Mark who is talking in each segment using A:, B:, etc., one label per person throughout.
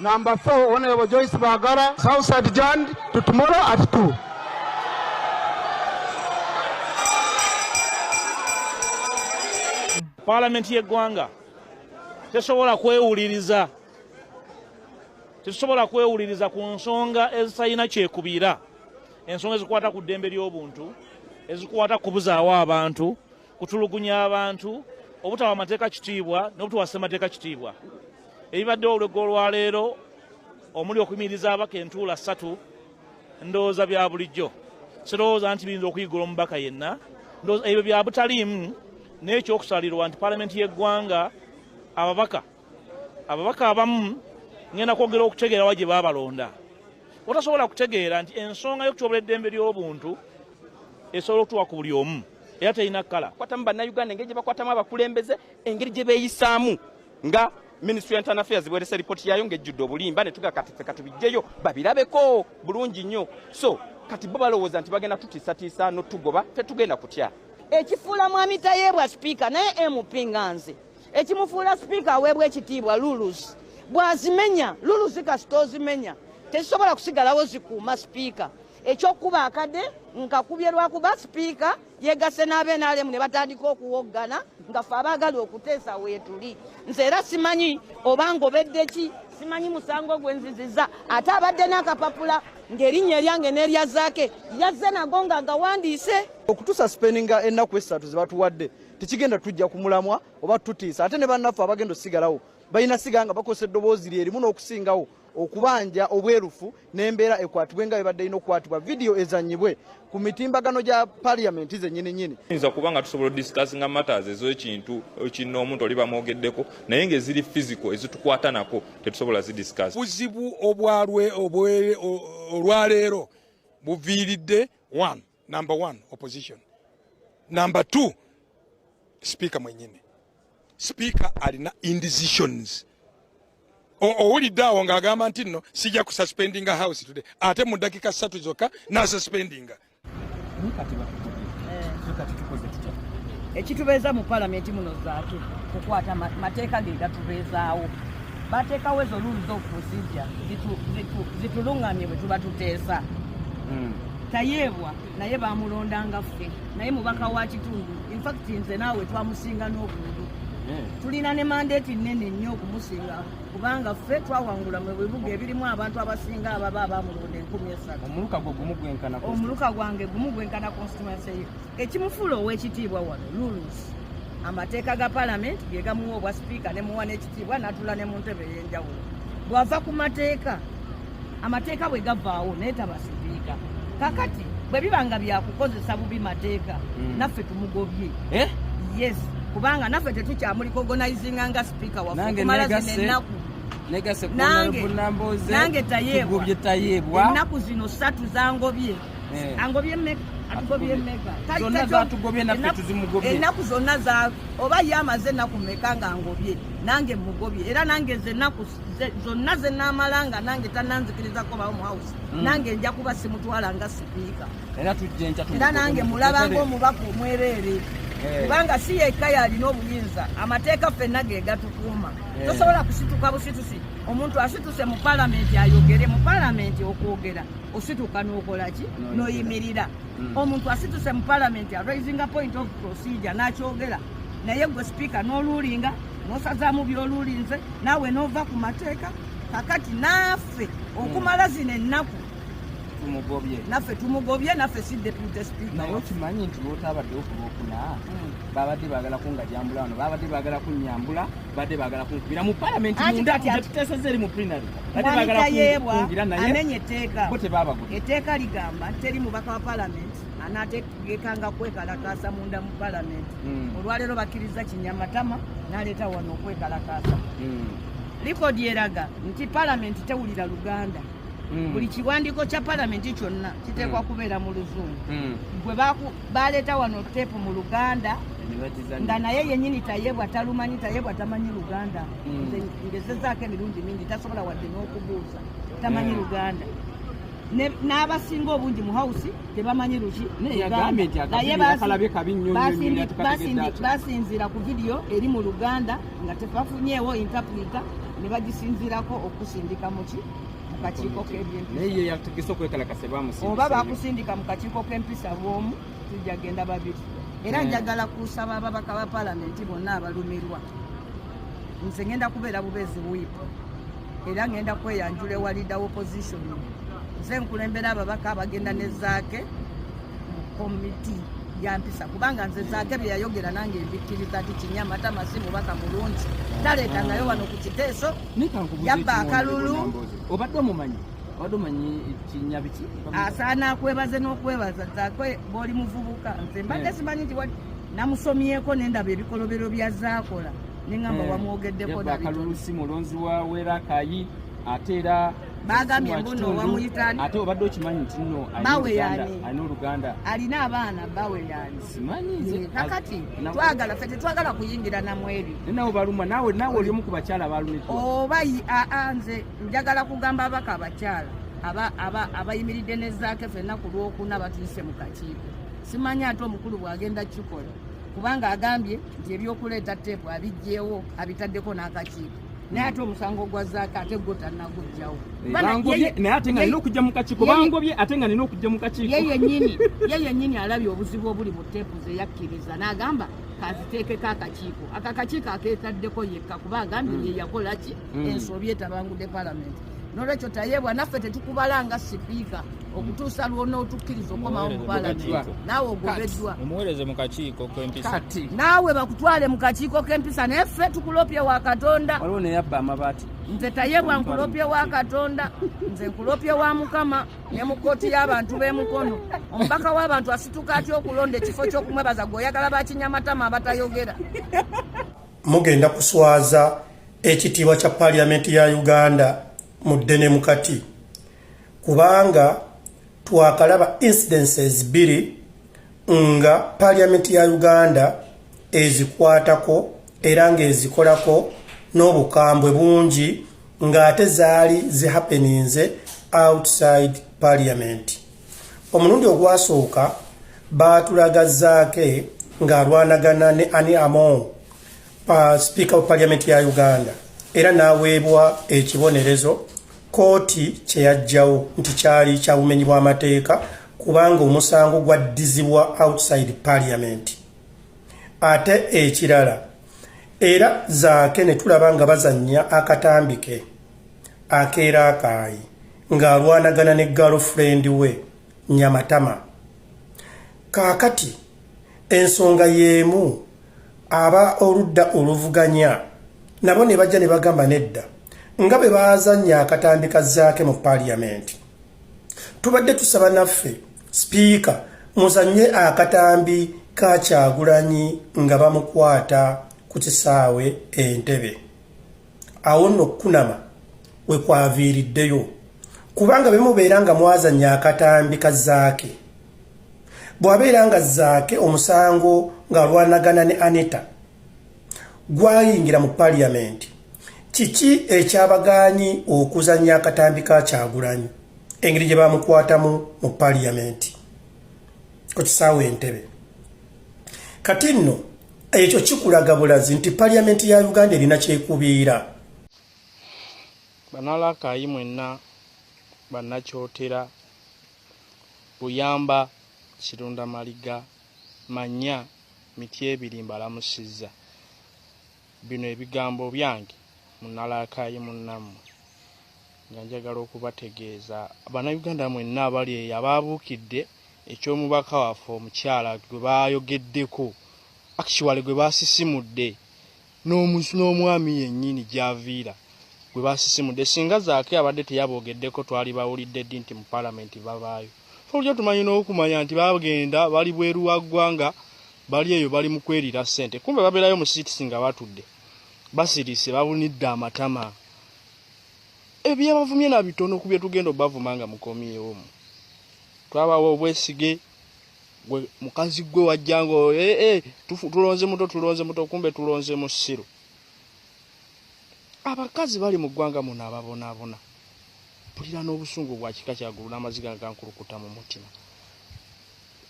A: Number four, Honorable Joyce Bagara, South Side Jan, to tomorrow at 2.
B: Parliament y'eggwanga tesobola kwewuliriza tetusobola kwewuliriza ku nsonga ezitalina kyekubiira ensonga ezikwata ku ddembe ly'obuntu ezikwata kubuzaawo abantu kutulugunya abantu obutawa amateeka kitiibwa n'obutawa ssemateeka kitiibwa ebibaddewo olwegga olwaleero omuli okuyimiriza abaka entuula ssatu ndowooza bya bulijjo sirowooza nti biyinza okuyigula omubaka yenna ndowooza ebyo bya butaliimu n'ekyokusalirwa nti palamenti y'eggwanga ababaka ababaka abamu ngenda kwogera okutegeerawa gye baabalonda otasobola kutegeera nti ensonga y'okutyobola eddembe ly'obuntu esobola okutuwa ku buli omu era terina kkala kwatamu bannayuganda engeri gye
C: bakwatamu abakulembeze engeri gye beeyisaamu nga ministry ya internal affairs bwerese lipooti yayo ng'ejjudde obulimba ne tuga kati ffe katubijjeyo babirabeko bulungi nnyo so kati bo balowooza nti bagenda tutiisatiisa notugoba ffe tugenda kutya ekifuula mwami
D: tayeebwa sipiika naye mp nga nze ekimufuula sipiika aweebwa ekitiibwa lulus bw'azimenya lulusi kasita ozimenya tezisobola kusigalawo zikuuma sipiika ekyokukuba akade nkakubye lwakuba sipiika yegasse n'abenalemu ne batandika okuwoggana nga fe abaagala okuteesa weetuli nze era simanyi oba ngobedde ki simanyi musango gwe nziziza ate abadde n'akapapula ng'erinnya eryange n'erya zaake yazze nago nga ngawandiise okutusa sipeninga
E: ennaku essatu ze batuwadde tekigenda tujja ku mulamwa oba tutiisa ate ne bannaffe abagenda osigalawo balina siga nga bakozesa eddoboozi lyerimu n'okusingawo okubanja obwerufu n'embeera ekwatibwe nga bibadde ina okukwatibwa vidiyo ezanyibwe ku mitimbagano gya paliamenti zenyini nyini yinza kuba nga tusobola
F: odiscussinga matters ezekintu kinna omuntu oli bamwogeddeko naye ngaeziri fisico ezitukwata nako tetusobola zidiscuss buzibu obwalwe
G: olwaleero buviiridde one Number one, opposition. Number two, speaker mwenyini. Speaker alina indecisions. Owulidde awo ng'agamba nti nno sijja kususpendinga house today ate mu ddakiika ssatu zokka n'asuspendinga.
D: ekitubeeza mu palamenti muno zaaki kukwata mateeka ge gatubeezaawo bateekawo ezo luulu z'okukusijja zitulungamye bwe tuba tuteesa hmm. tayeebwa naye bamulonda nga ffe naye mubaka wa kitundu infact nze naawe twamusinga n'obuntu hmm. tulina ne mandeeti nnene nnyo okumusinga kubanga ffe twawangula mu bibuga ebirimu abantu abasinga ababa abamulonda enkumi esatu omuluka gwange gumu gwenkana constituency ye ekimufuula ow'ekitiibwa wano lulus amateeka ga palamenti ge gamuwa obwa sipiika ne muwa n'ekitiibwa n'atula ne mu ntebe ey'enjawulo bw'ava ku mateeka amateeka bwe gavaawo naye taba sipiika kakati bwe biba nga byakukozesa bubi mateeka mm. naffe tumugobye eh? yes kubanga naffe tetukyamuliko organizinga nga sipiika wakumala zino ennaku nange tayeebwa ennaku zino satu zangobye eh. angobye meka
C: ennaku zonna
D: oba ye amaze ennaku meka nga ngobye nange mugobye era nange nze ennaku zonna ze naamala nga nange tananzikirizako bawo mu house mm. nange nja kuba simutwala nga sipiika era nange mulaba ngaomubaka omwereere eh. kubanga si yekka yalina obuyinza amateeka ffenna ge gatukuuma eh. tosobola kusituka busitusi omuntu asituse mu palamenti ayogere mu palamenti okwogera osituka nokolaki noyimirira mm. omuntu asituse mu palamenti araisinga point of procedure nakyogera naye gwe sipiika noluulinga nosazaamu byolulinze naawe nova ku mateeka kakati naafe okumala zino ennaku tumugobye naffe tumugobye naffe si deputy speaker naye okimanyi nti
C: lwotabadde okulwokuna hmm. babadde bagala kungajambula wano babadde bagala kunyambula badde bagala kunkubira mu palamenti munda tuteeseza eri mu prinary amenye etteeka
D: etteeka
C: ligamba
D: teri mubaka wa palamenti anaategekanga kwekalakaasa munda mu palamenti hmm. olwaleero bakkirizza kinyamatama n'aleeta wano okwekalakaasa hmm. likodi eraga nti palamenti tewulira luganda hmm. buli kiwandiiko kya palamenti kyonna kiteekwa kubeera mu luzungu gwe baleeta wano teepu mu luganda nga naye yenyini tayebwa talumanyi tayebwa tamanyi luganda ngezezaako emirundi mingi tasobola wadde n'okubuuza tamanyi luganda n'abasinga obungi mu hawusi tebamanyi luki basinziira ku vidiyo eri mu luganda nga tebafunyeewo intapulita ne bagisinziirako okusindika muki mukakiiko k'ebyempisaoba bakusindika mu kakiiko k'empisa bwomu tujja genda babiri era njagala kusaba ababaka ba palamenti bonna abalumirwa nze ngenda kubeera bubeezi wiipo era ngenda kweyanjula ewa leader opposition nze nkulembera ababaka abagenda ne zaake mu komiti yampisa kubanga nze zaake bye yayogera nange mbikkiriza ti kinya matama si mubaka mulungi taleeta nayo wano ku kiteeso yabba akalulu obadde
C: omumanyi asaana
D: akwebaze n'okwebaza zaake bwoli muvubuka nze mbadde eh. simanyi nti namusomyeko nendaba ebikolobero bya zaakola nengamba eh, wamwogeddeko akalulu si mulonzi
C: wa wera kayi ate era bagambye mbuno
D: wamuyitani ate obadde okimanyi nti
C: no bawe yani alina oluganda alina abaana
D: bawe yani simanyi eh,
C: kakati
D: twagala fe tetwagala kuyingira namweri nawe baluma nawe
C: nawe oli omu ku bakyala balumika oba aa
D: nze njagala kugamba abaka abakyala abayimiridde ne zaake fenna ku lwokuna batuise mu kakiiko simanyi ate omukulu bwagenda kikola kubanga agambye nti ebyokuleeta teepu abijjeewo abitaddeko n'akakiiko naye ate omusango gwa zaaka ate gwo tannagujjawo eh, naye
C: ate nga nina okujja mu kakiiko bangobye ate nga nina okujja mu kakiiko ye yennyini ye yennyini
D: alabye obuzibu obuli mu teepu ze yakkiriza n'agamba kaziteekeko akakiiko aka kakiiko akeetaddeko yekka kuba agambye hmm. ye yakola ki hmm. ensobi etabangudde palamenti nolwekyo tayebwa naffe tetukubala nga sipiika okutuusa lwonootukkiriza okomawo mubalani naawe ogobeddwa omuwereze mu kakiiko
H: kempisa kati naawe bakutwale
D: mu kakiiko kempisa naye ffe tukulopye wa katonda waliwo neyabba amabaati
C: nze tayebwa
D: nkulopye wa katonda nze nkulopye wa mukama ne mu kkooti y'abantu b'emukono omubaka w'abantu asituka atya okulonda ekifo ky'okumwebaza gwe oyagala bakinyamatama abatayogera
I: mugenda kuswaza ekitiibwa kya paaliyamenti ya uganda mu ddene mukati kubanga twakalaba incidences bbiri nga paaliyamenti ya uganda ezikwatako era ng'ezikolako n'obukambwe bungi ng'ate zaali zihapeninze outside paaliyamenti omulundi ogwasooka baatulagazaake ng'alwanagana ne ani among uh, speaker wa parliament ya Uganda era naweebwa ekibonerezo kooti kyeyajjawo nti kyali kyabumenyi bw'amateeka kubanga omusango gwaddizibwa outside parliament ate ekirala era zaake ne tulaba nga bazannya akatambi ke akeera akaayi ng'alwanagana ne girlfriend we nyamatama kaakati ensonga y'emu aba oludda oluvuganya nabo ne bajja ne bagamba nedda nga bwe baazannya akatambi ka zaake mu paaliyamenti tubadde tusaba naffe sipiika muzannye akatambi ka kyagulanyi nga bamukwata ku kisaawe entebe awo nno okukunama we kwaviiriddeyo kubanga bemubeera nga mwazannya akatambi ka zaake bwabeera nga zaake omusango ng'alwanagana ne aneta gwayingira mu paliyamenti kiki ekyabagaanyi okuzanya akatambi ka kyagulanyi engeri gye bamukwatamu mu paliyamenti ku kisaawa entebe kati nno ekyo kikulaga bulazi nti paliyamenti ya uganda erina kyekubiira
H: banalakaayi mwenna bannakyotera Buyamba, Kirunda Maliga, Manya, Mityebiri mbalamusizza. Bino ebigambo byange munalaakaayi munnammwe nga njagala okubategeeza Bannayuganda mwenna abali eyo abaabuukidde eky'omubaka waffe omukyala gwe baayogeddeko, actually gwe baasisimudde. n'omwami yennyini gy'aviira gwe baasisimudde. Singa Zaake abadde teyaboogeddeko twali bawulidde ddi nti mu Palamenti babaayo? Ffe bulijjo tumanyi n'okumanya nti bagenda bali bweru wa ggwanga bali eyo bali mu kweriira ssente kumbe babeerayo mu siitisi nga batudde basirise babunidde amatama. Ebyabavumye na bitono ku bye tugenda obavuma nga mukomyewo. Twabawa obwesige. gwe mukazi gwe wajjanga ee eh, eh, tulonze muto tulonze muto kumbe tulonze musiru abakazi bali mu ggwanga muno ababonaabona mpulira n'obusungu bwa kika kyagulu n'amaziga ngankulukuta mu mutima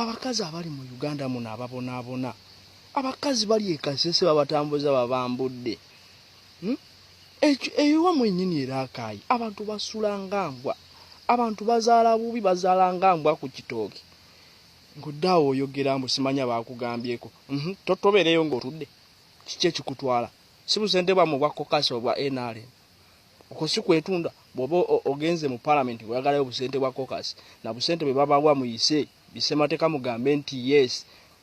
H: abakazi abali mu uganda muno ababonaabona abakazi bali ekasese babatambuza babambudde hmm? ewa mwenyini era akaayi abantu basula nga mbwa abantu bazaala bubi bazaala nga mbwa ku kitooki ngaoddaawo oyogera mbu simanya baakugambyeko mhm, tobeereyo ngaotudde kiki ekikutwala si busente bwamu obwa kokasi obwa nrm okwo si kwetunda bwoba ogenze mu palamenti oyagalayo obusente bwa kokasi na busente bwe babawa muyise bisemateeka mugambe nti yes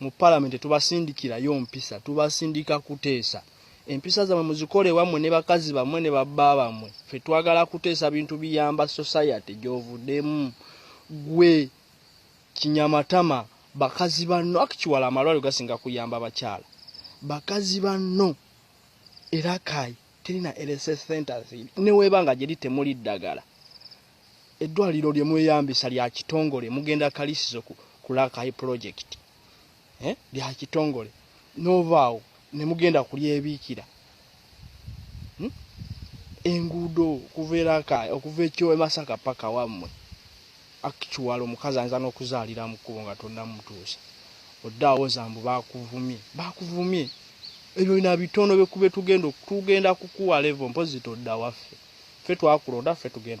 H: mu palamenti tubasindikirayo mpisa tubasindika kuteesa empisa zamwe muzikole wamwe ne bakazi bamwe ne babba bamwe fe twagala kuteesa bintu biyamba society gyovudemu gwe kinyamatama bakazi banno akikiwala amalwaliro gasinga kuyamba abakyala bakazi banno era kayi terina lss centers newebanga gyeri temuli ddagala Eddwaliro lye mweyambisa lya kitongole mugenda kalisizo ku, ku Rakai project eh? lya kitongole n'ovaawo ne mugenda kulyebiikira hmm? enguudo okuva eraka okuva ekyo emasaka paka wammwe actual omukazi ayinza n'okuzaalira mu kkubo nga tonnamutuusa odde awoza mbu baakuvumye baakuvumye ebyo bina bitono bye kube tugenda tugenda kukuwa levo mpozi todda waffe ffe twakulonda ffe tugenda